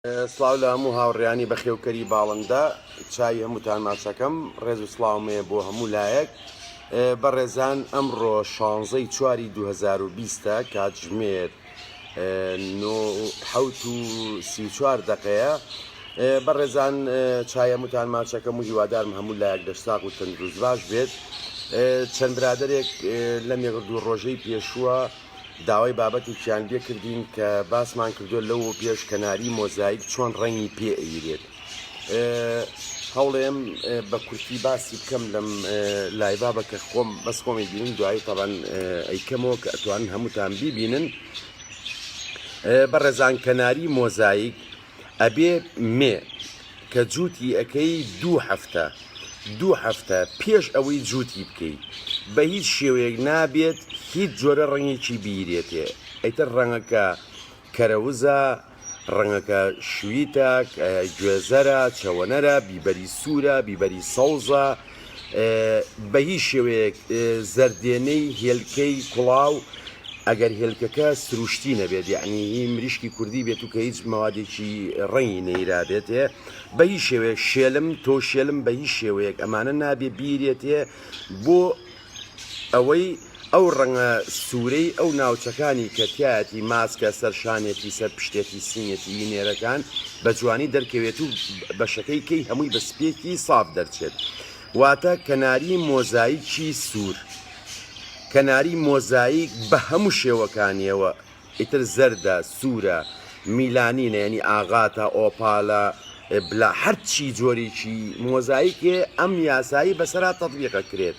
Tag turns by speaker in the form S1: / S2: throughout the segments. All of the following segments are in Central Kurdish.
S1: سڵاو لە هەموو هاوڕیانی بەخێوکەری باڵندە چاوی هەمووتان ماچەکەم ڕێز و سڵاومەیە بۆ هەموو لایەک بەڕێزان ئەمڕۆ شانزەی چواری 2020 کاتژمێر حوت و سیچوار دقەیە بەڕێزان چایە متان ماچەکەم و هیوادارم هەموو لایەک دەشتاق و تەندروست باش بێت چەند برادێک لە مێگردوو ڕۆژەی پێشووە داوای بابەتێکیان لێ کردین کە باسمان کردو لەوە پێش کەناری مۆزایک چۆن ڕەنگی پێ ئەیرێت هەوڵێم بە کورتی باسی بکەم لەم لایبابە کە خۆم بەس خۆمی بینم دوایی تاوان ئەیکەمەوە کە ئەتوان هەمووتان بیبینن بە ڕێزان کەناری مۆزایک ئەبێ مێ کە جووتی ئەکەی دوو هەفتە دوو هەفتە پێش ئەوەی جووتی بکەیت بە هیچ شێوەیەک نابێت هیچ جۆرە ڕەنگێکی بیرێتێ ئەیتر ڕەنگەکە کەرەوزە ڕەنگەکە شویتە گوێزەرە چەوەنەرە بیبەری سوورە بیبەری سەوزە بە هیچ شێوەیەک زەردێنەی هێلکەی کوڵاو ئەگەر هێلکەکە سروشتی نەبێت یعنی هی مریشکی کوردی بێت و کە هیچ مەوادێکی ڕەنگی نەیرابێتێ بە هیچ شێوەیە شێلم تۆ شێلم بە هیچ شێوەیەک ئەمانە نابێ بیرێتێ بۆ ئەوەی ئەو ڕەنگە سورەی ئەو ناوچەکانی کە تیایەتی ماسکە سەر شانێتی سەر پشتێتی سینێتی ی نێرەکان بە جوانی دەرکەوێت و بەشەکەی کەی هەمووی بە سپیەکی ساف دەرچێت واتە کەناری مۆزایکی سور کەناری مۆزایک بە هەموو شێوەکانیەوە ئیتر زەردە سورە میلانینە یەنی ئاغاتە ئۆپالە بلا هەرچی جۆرێکی مۆزایکێ ئەم یاسایی بەسەرا تەطبیقە کرێت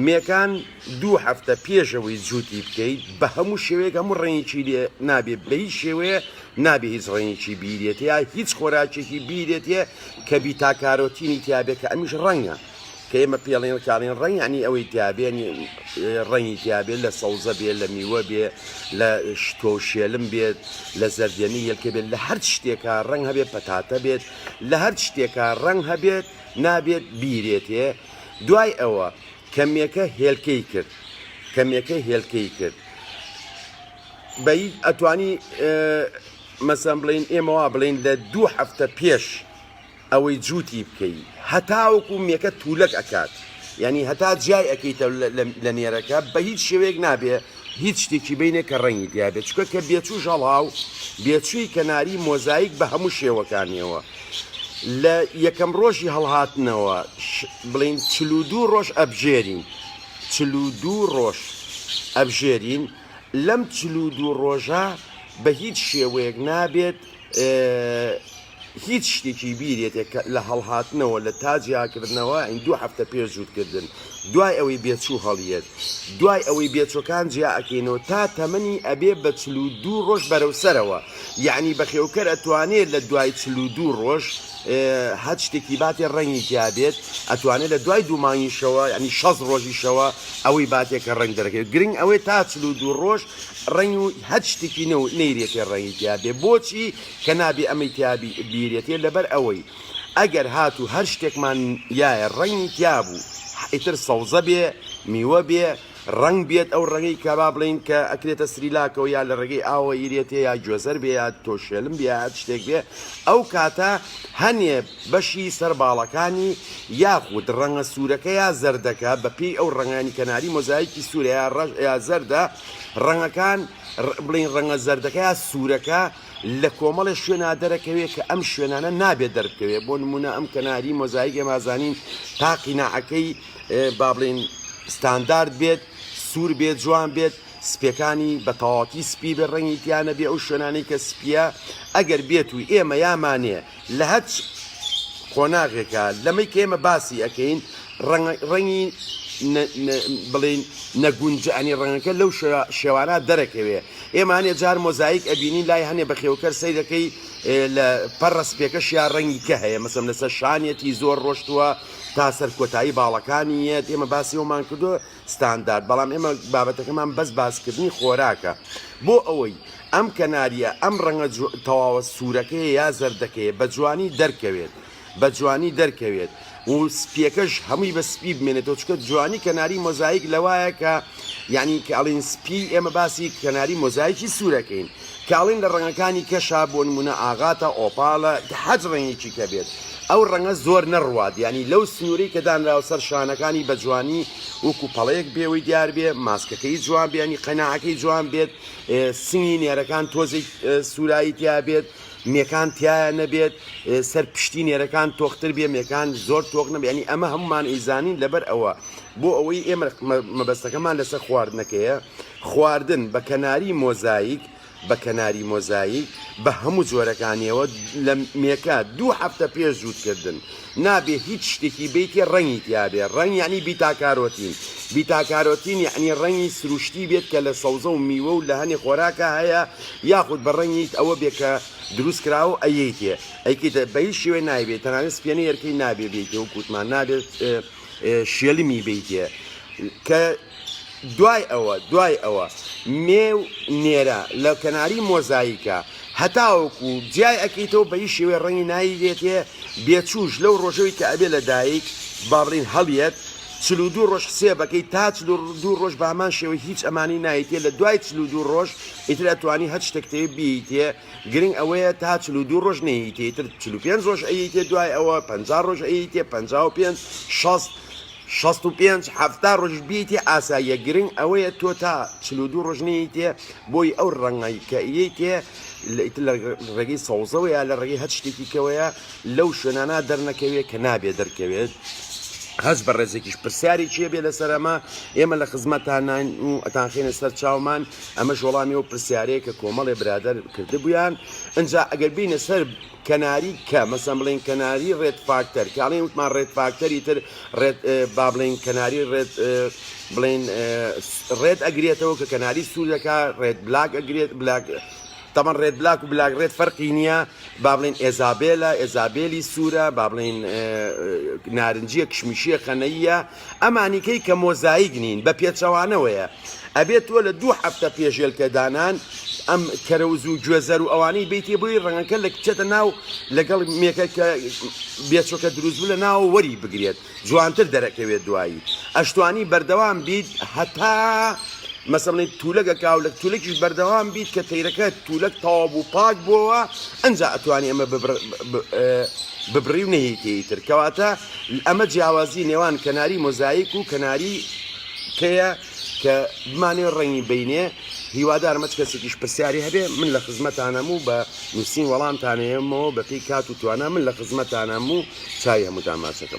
S1: مێکان دوو هەفتە پێشەوەی جووتی بکەیت بە هەموو شێوەیەک هەموو ڕێنێکی لێ نابێت بە هیچ شێوەیە نابێ هیچ ڕێنێکی بیرێت یا هیچ خۆراکێکی بیرێتە کە بیتاکارۆتینی تیاابێت کە ئەمیش ڕەنگە کە ئێمە پێڵێن کاڵێن ڕەنگ ینی ئەوەی تیاابێن ڕەنگی تیاابێت لە سەوزە بێت لە میوە بێ لە شتۆ شێلم بێت لە زەردێنی یەلکە بێت لە هەر شتێکە ڕەنگ هەبێت پەتاتە بێت لە هەر شتێکە ڕەنگ هەبێت نابێت بیرێتێ دوای ئەوە کەمێکە هێلکەی کرد کەمێکە هێلکەی کرد بە ئەتوانی مەسەم بڵین ئێمەوا بڵین لە دوو هەفتە پێش ئەوەی جوتی بکەی هەتاوەکو مێکە تولەک ئەکات یانی هەتا جیای ئەکەیتە لە نێرەکە بە هیچ شێوەیەک نابێ هیچ شتێکی بینێ کە ڕەنگی دیابێت چکە کە بێچوو ژەڵاو بێچووی کەناری مۆزایک بە هەموو شێوەکانیەوە لە یەکەم ڕۆژی هەڵهاتنەوە بڵین چلودو ڕۆژ ئەبژێرین چلودو ڕۆژ ئەبژێرین لەم چلودو ڕۆژە بە هیچ شێوەیەک نابێت هیچ شتێکی بیرێتێ کە لە هەڵهاتنەوە لە تا جیاکردنەوە ئەین دوو هەفتە پێش جووتکردن دوای ئەوەی بێچوو هەڵیەت دوای ئەوەی بێچوەکان جیا ئەکەینەوە تا تەمەنی ئەبێ بە چلو دوو ڕۆژ بەرەو سەرەوە یعنی بەخێوکەر ئەتوانێت لە دوای چلو دوو ڕۆژ هەر شتێکی باتێ ڕەنگی تیابێت ئەتوانێت لە دوای دوو مانگیشەوە ینی شەز ڕۆژیشەوە ئەوەی باتێکە ڕنگ دەرەکەی گرنگ ئەوەی تا چلو دوو ڕۆژ ڕنگ و هەر شتێکی نەو نەیرێتێ ڕەنگی تیابێ بۆچی کە نابێ ئەمەی تیا بیرێتێ لەبەر ئەوەی ئەگەر هاتوو هەر شتێکمان یایە ڕەنگی تیا بوو ئیتر سەوزە بێ میوە بێ ڕنگ بێت ئەو ڕەنگی کە با بڵین کە ئەکرێتە سریلاکەوە یا لە ڕێگەی ئاوە یرێتێ یا گوێزەر بێ یا تۆشێلم بێ هەر شتێک بێ ئەو کاتە هەنێ بەشی سەر باڵەکانی یاخود ڕەنگە سوورەکە یا زەردەکە بەپێی ئەو ڕەنگانی کەناری مۆزایکی سوورە یا ڕەش یا زەردە ڕەنگەکان بڵین ڕەنگە زەردەکە یا سوورەکە لە کۆمەڵێ شوێنا دەرەکەوێ کە ئەم شوێنانە نابێ دەربکەوێ بۆ نمونە ئەم کەناری مۆزایک ئێمازانین تا قیناعەکەی با بڵین ستاندارد بێت سوور بێت جوان بێت سپێکانی بە تەواتی سپی بێ ڕەنگی تیانە بێ ئەو شوێنانی کە سپیە ئەگەر بێت و ئێمە یامانێ لە هەچ قۆناغێکا لەمەی کە ئێمە باسی ئەکەین ڕەنگی بڵین نەگونجانی ڕەنگەکە لەو شێوانە دەرەکەوێ ئێمانێ جار مۆزایک ئەبینین لای هەنێ بەخێوکەر سیرەکەی لە پەرڕس پێکەش یا ڕەنگی کە هەیە مەسم لەسەر شانەتی زۆر ڕۆشتووە تا سەر کۆتایی باڵەکانی یەت ئێمە باسی ئەومان کردو ستاندارد بەڵام ئێمە بابەتەکەمان بەس باسکردنی خۆراکە بۆ ئەوەی ئەم کەناریە ئەم ڕەنگە تەواوە سوورەکەی یا زەردەکەی بە جوانی دەرکەوێت بە جوانی دەرکەوێت و سپیەکەش هەمووی بە سپی بمێنێتەوە چکە جوانی کەناری مۆزایک لەوایە کە یعنی کە ئەڵین سپی ئێمە باسی کەناری مۆزایکی سوورەکەین کاڵین لە ڕەنگەکانی کەشە بۆ نمونە ئاغاتە، ئۆپالە، هەچ ڕەنگێکی کە بێت ئەو ڕەنگە زۆر نەڕوات یانی لەو سنورەی کە دانراوە سەر شانەکانی بە جوانی وەکو پەڵەیەک بێوەی دیار بێ ماسکەکەی جوان بێ ینی قەناعەکەی جوان بێت سنگی نێرەکان تۆزێک سورایی تیا بێت مێکان تایە نەبێت سەر پشتی نێرەکان تۆختر بێ مێکان زۆر تۆخ نەبێ ینی ئەمە هەمومان ئیزانین لەبەر ئەوە بۆ ئەوەی ئێمە مەبەستەکەمان لەسەر خواردنەکەیە خواردن بە کەناری مۆزایک بە کەناری مۆزایک بە هەموو جۆرەکانیەوە لە مێکە دوو هەفتە پێش جووتکردن نابێ هیچ شتێکی بیتێ ڕەنگی تیاابێ ڕەنگ یعنی بیتاکارۆتین بیتاکارۆتین یعنی ڕەنگی سروشتی بێت کە لە سەوزە و میوە و لە هەنێ خۆراکە هەیە یاخود بە ڕەنگیت ئەوە بێ کە دروست کرا و ئەیتێ ئەیکیتە بە هیچ شوێ نایبێت تەنانێت سپێنە یەرکەی نابێ بیتێ و کووتمان نابێت شێلمی بیتێ کە دوای ئەوە دوای ئەوە مێو نێرە لە کەناری مۆزایکە هەتاوەکو جیای ئەکەیتەوە بەی شێوەی ڕەنگی ناوی دێتێ بێچوش لەو ڕۆژەوەی کە ئەبێ لە دایک باڕین هەڵیەت چل و دوو ڕۆژ حسێبەکەی تا چل و دوو ڕۆژ بە هەمان شێوەی هیچ ئەمانی نایتێ لە دوای چل و دوو ڕۆژ ئیتر ئەتوانی هەر شتێکتێ بیتێ گرنگ ئەوەیە تا چل و دوو ڕۆژ نەیتێ ئیتر چل و پێنج ڕۆژ ئەیتێ دوای ئەوە پەنجا ڕۆژ ئەیتێ پەنجا و پێنج شەست شەست و پێنج حەفتا ڕۆژ بیتێ ئاساییە گرنگ ئەوەیە تۆ تا چل و دوو ڕۆژ نەیتێ بۆی ئەو ڕەنگی کە ئیتێ لە ڕێگەی سەوزەوەیە لە ڕێگەی هەر شتێکی کەوەیە لەو شوێنانە دەرنەکەوێت کە نابێ دەرکەوێت هەست بە ڕێزێکیش پرسیاری چیە بێ لەسەر ئەمە ئێمە لە خزمەتان ناین و ئەتانخێنە سەر چاومان ئەمەش وەڵامی و پرسیارەیە کە کۆمەڵێ برادەر کردبیان ئەجا ئەگەر بینە سەر کەناری کە مەسەن بڵین کەناری ڕێت فاکتەر کاڵین وتمان ڕێت فاکتەری تر ڕێت با بڵین کەناری ڕێت بڵین ڕێت ئەگرێتەوە کە کەناری سوور دەکا ڕێت بلاک ئەگرێت بلاک تەمە ڕێت بلاک و بلاک ڕێت فەرقی نییە با بڵین ئێزابێلە ئێزابێلی سوورە با بڵین نارنجیە کشمیشیە قەنەیە ئەمانی کەی کە مۆزایک نین بە پێچەوانەوەیە ئەبێت تۆ لە دوو هەفتە پێش ژێل پێدانان ئەم کەرەوز و گوێزەر و ئەوانەی بیتێ بۆی ڕەنگەکە لە کچێتە ناو لەگەڵ مێکە کە بێچۆکە دروست بوو لە ناوە وەری بگرێت جوانتر دەرەکەوێت دوایی ئەشتوانی بەردەوام بیت هەتا مەسەڵی تولەگە کاو لە تولەکیش بەردەوام بیت کە تەیرەکە تولەک تەواو بوو پاک بووەوە ئەجا ئەتوانی ئەمە ببڕی و نەهیتیتر کەواتە ئەمە جیاوازی نێوان کەناری مۆزایک و کەناری کەیە کە بمانوێ ڕەنگی بینێ هیوادارم هەچ کەسێکیش پرسیاری هەبێ من لە خزمەتانەم و بە نووسین وەڵامتانەیەمەوە بەپی کات و توانا من لە خزمەتانەم و چای هەمووتان ماچەکەم.